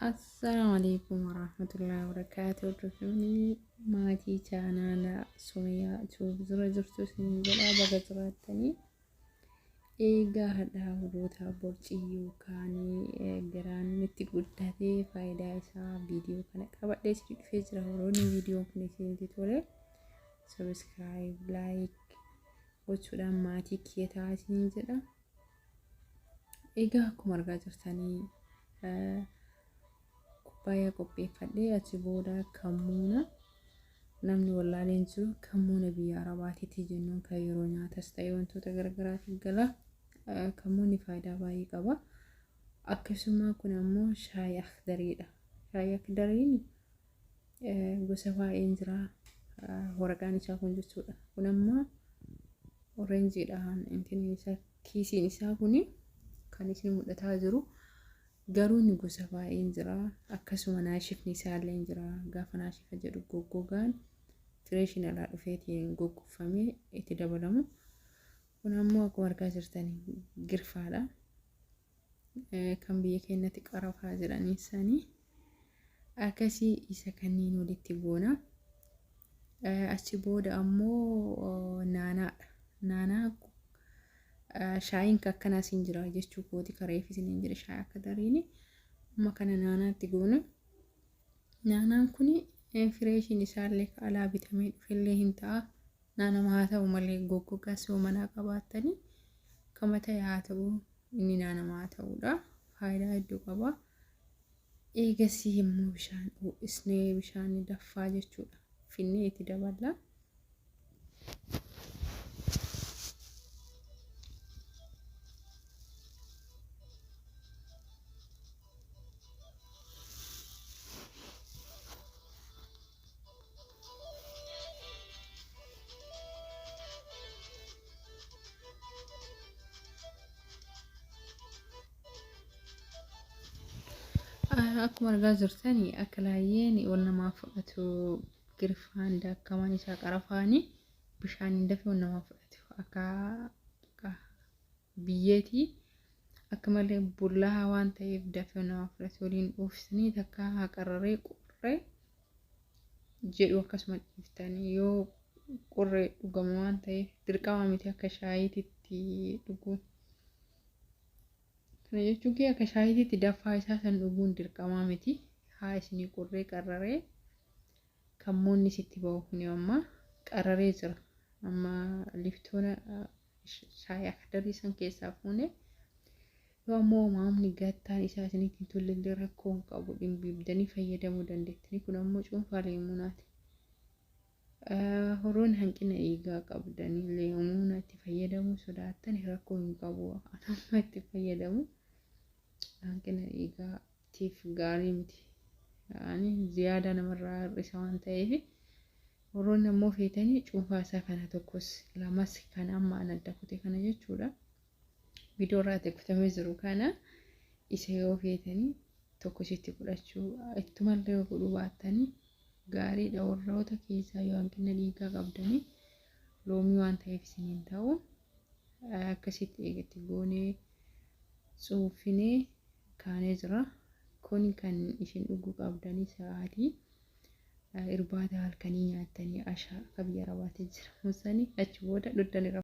Assalaamu alaikum warahmatullahi wabarakaatu hordoftoonni maatii chaanaala Sumayyaa Tuub dura jirtu isin jedha baga jiraattanii Eegaa hadhaa warrootaa borcii yookaanii garaan itti guddatee faayidaa isaa viidiyoo kana qabadhee itti dhufee jira warroonni viidiyoon kun isinitti tole sabiskiraayib laayik gochuudhaan maatii kiyya ta'aa isiniin jedha. Egaa akkuma argaa jirtanii kubbaayyaa qopheeffadhee achi booda kammuuna. Namni wallaaleen jiru kan muuna biyya Arabaatiiti jennuun kan yeroo nyaatas ta'e wantoota garagaraatiif gala. Kan muunni faayidaa baay'ee qaba. Akkasumaa kun ammoo shaayii akdariidha. Shaayii akdariin gosa baay'een jira. Waraqaan isaa kun jechuudha. Kun ammoo orenjiidhaan intiin isaa kiisiin isaa kun kan isin mul'ataa jiru Garuu inni gosa baay'een jira. Akkasuma naashifni isaalleen jira. Gaafa naashifa jedhu goggogaan fireeshiin alaa dhufeetiin goggoffamee itti dabalamu. Kun ammoo akkuma argaa jirtan girfaadha. Kan biyya keenyatti qarafaa jedhanii sanii. Akkasii isa kanniin walitti goona. Achi booda ammoo naanaadha. Naanaa shaayiin akkanaa siin jira jechuu kooti kareef isiniin jedhe shaayii akka dariini. Amma kana naanaatti goona. Naanaan kun fireeshiin isaallee ka alaa bitamee dhufellee hin ta'a. Naanama haa ta'u malee goggogaa soo manaa qabaattanii kama ta'e haa ta'u inni naanama haa ta'uudha. Faayidaa hedduu qaba. Eegasii immoo bishaan ho'isnee bishaan daffaa jechuudha. Finnee itti daballa. Akkuma argaa jirtan akka laayyeen wal namaa fudhatu girfaan daakkamaan isaa qarafaanii bishaaniin dafee wal namaa fudhatu akka biyyeeti akka malee bullahaa waan ta'eef dafee nama fudhate waliin dhuufsanii takkaa haa qarraree qurree jedhu akkasuma dhiiftanii yoo qurree dhugamu waan ta'eef dirqamaa miti akka shaayiititti dhuguu. Kana jechuun kee akka shaayiititti dafaa isaa san dhuguun dirqamaa miti haa isinii qurree qarraree kammoonni sitti ba'u kuni amma qarraree jira amma liftoona shaayii akdabii san keessaa fuune yoo ammoo umaamni gattaan isaa isinitti hin tollellee rakkoo hin qabu dhimbiibdanii fayyadamuu dandeettanii kun ammoo cuunfaa leemuunaati. Horoon hanqina dhiigaa qabdanii leemuuna itti fayyadamuu sodaattani rakkoo hin qabu anamma itti fayyadamu hanqina dhiigaa tiif gaarii miti. Ani ziyaadaa namarraa hir'isa waan ta'eefi. Warroonni ammoo feetanii cuunfaa isaa kana tokkos lamas kana amma an adda kute kana jechuudha. Viidiyoo irraa adda kutamee jiru kana isa yoo feetanii tokko ishiitti godhachuu ittumallee yoo godhuu baattanii gaariidha warroota keessaa yoo hanqina dhiigaa qabdanii loomii waan ta'eef isiniin ta'u akkasitti eegatti goonee cuunfinee kaanee jira. Kun kan isin dhuguu qabdanii sa'aatii irbaata halkanii nyaattanii ashaa akka biyya arabaatti jira. Musani achi booda dhuddani